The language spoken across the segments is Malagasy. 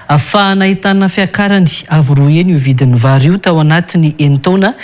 Afahana ahitana fiakarany avo roa heny io vidin'ny vary io tao anatin'ny enin-taona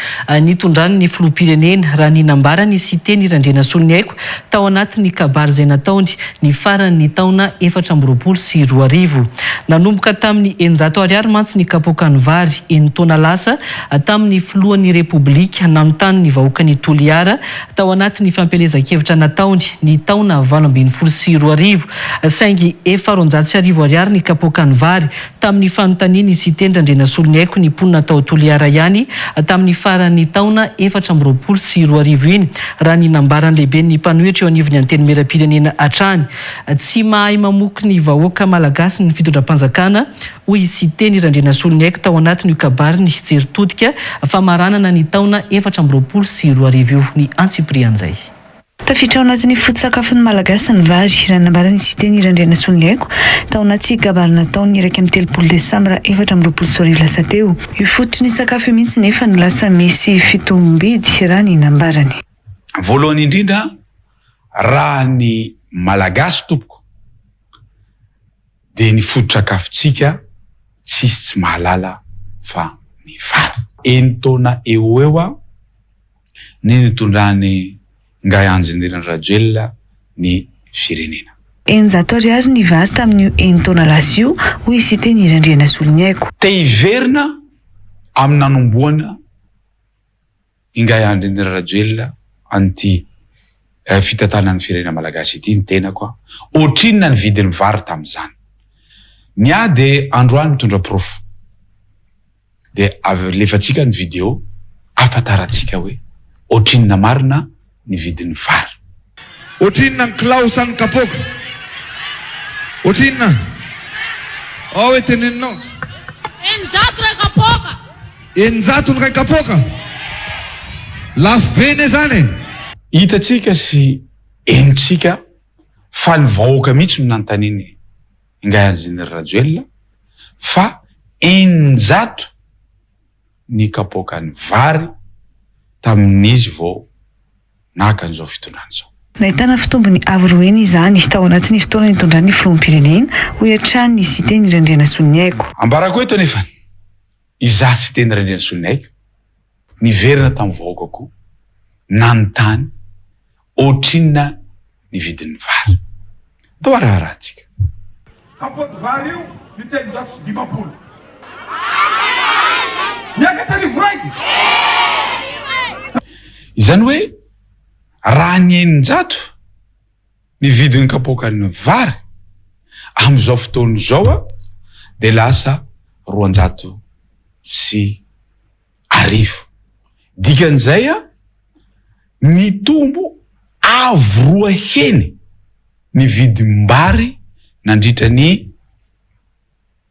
nitondran'ny filoham-pirenena, raha ny nambaran'i Siteny Randrianasoloniaiko tao anatin'ny kabary izay nataony ny faran'ny taona efatra amby roapolo sy roa arivo. Nanomboka tamin'ny eninjato ariary mantsy ny kapoakan'ny vary, enin-taona lasa, tamin'ny filohan'ny Repoblika nanontany ny vahoakan'i Toliara tao anatin'ny fampielezan-kevitra nataony ny taona valo ambin'ny folo sy roa arivo, saingy efa roanjato sy arivo ariary ny kapoakan'ny vary, tamin'ny fanontanian'i Siteny Randrianasoloniaiko ny mponina tao Toliara ihany tamin'ny faran'ny taona efatra amby roapolo sy roa arivo iny, raha ny nambaran'ny lehiben'ny mpanohitra eo anivon'ny Antenimierampirenena hatrany. Tsy mahay mamoky ny vahoaka Malagasy ny fitondram-panjakana. hoy Siteny Randrianasoloniaiko tao anatin'io kabariny Jery Todika famaranana ny taona efatra amby roapolo sy roa arivo io, ny antsipirian'izay. Tafiditra ao anatin'ny foto-tsakafon'ny Malagasy ny vary, raha nambaran'i Siteny Randrianasoloniaiko tao anaty kabary nataony ny iraika amby telopolo desambra efatra amby roapolo sy roa arivo lasa teo. Io fototry ny sakafo io mihitsy nefa no lasa misy fitombom-bidy, raha ny nambarany. Voalohany indrindra, raha ny Malagasy tompoko, dia ny foto-tsakafontsika tsisy tsy mahalala fa ny vary. Enin-taona eo ho eo aho ny nitondran'i Ngahy Anjinirina Rajoelina ny firenena. Eninjato ariary ny vary tamin'io enin-taona lasa io, hoy Siteny Hery Andrianasoloniaiko. Te hiverina amin'ny nanombohana ny. Ingahy Andry Indra Rajoelina an'ity fitantanan'ny firenena malagasy ity ny tenako a! Ohatrinona ny vidin'ny vary tamin'izany? Ny ahy dia androany mitondra porofo dia alefantsika ny video ahafantarantsika hoe ohatrinona marina ny vidin'ny vary. Ohatrinona ny kilao sa ny kapoaka? Ohatrinona? Ao hoe teneninao. Eninjato iray kapoaka. Eninjato ny iray kapoaka? Lafo be anie izany e! Hitantsika sy henontsika fa ny vahoaka mihitsy no nanontanian'ny ingahy Enjenera Rajoelina fa eninjato. ny kapoakan'ny vary tamin'izy vao naka an'izao fitondrana izao. Nahitana fitombony avo roa heny izany tao anatin'ny fotoana nitondrany ny filoham-pirenena, hoy hatrany ny Siteny Randrianasoniaiko. Ambarako eto anefa ny izaho Siteny Randrianasoniaiko niverina tamin'ny vahoaka koa nanontany Ohatrinona ny vidin'ny vary? Toa raharahantsika. Kapoaky vary io ny telonjato sy dimampolo. Miakatra arivo raiky. Izany hoe raha ny eninjato ny vidin'ny kapoakan'ny vary amin'izao fotoana izao dia lasa roanjato sy. arivo. Dikan'izay, nitombo avo roa heny ny vidim-bary nandritra ny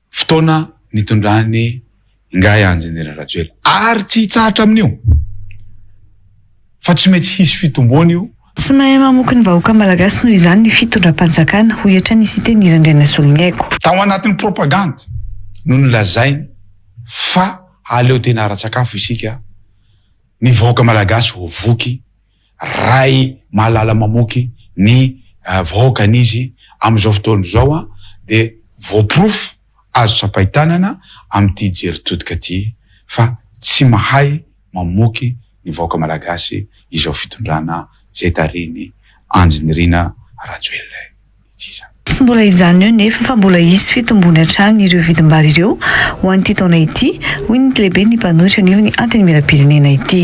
fotoana nitondran'ny Ingahy Enjeniera Rajoelina. Ary tsy hitsahatra amin'io fa tsy maintsy hisy fitomboana io. Tsy mahay mamoky ny vahoaka malagasy noho izany ny fitondram-panjakana, hoy hatrany i Siteny Irandrianasoloniaiko. Tao anatin'ny propagandy no nolazainy fa aleo tena ara-tsakafo isika, ny vahoaka malagasy ho voky, Ray Malala mamoky ny vahoakan'izy, amin'izao fotoana izao dia voaporofo. Azo tsapain-tanana amin'ity jery todika ity fa tsy mahay mamoky ny vahoaka malagasy izao fitondrana izay tarihin'i Andry Nirina Rajoelina ity izany. Tsy mbola hijanona eo nefa fa mbola hisy fitombony hatrany ireo vidim-bary ireo ho an'ity taona ity, hoy ny lehiben'ny mpanohitra anivon'ny Antenimierampirenena ity.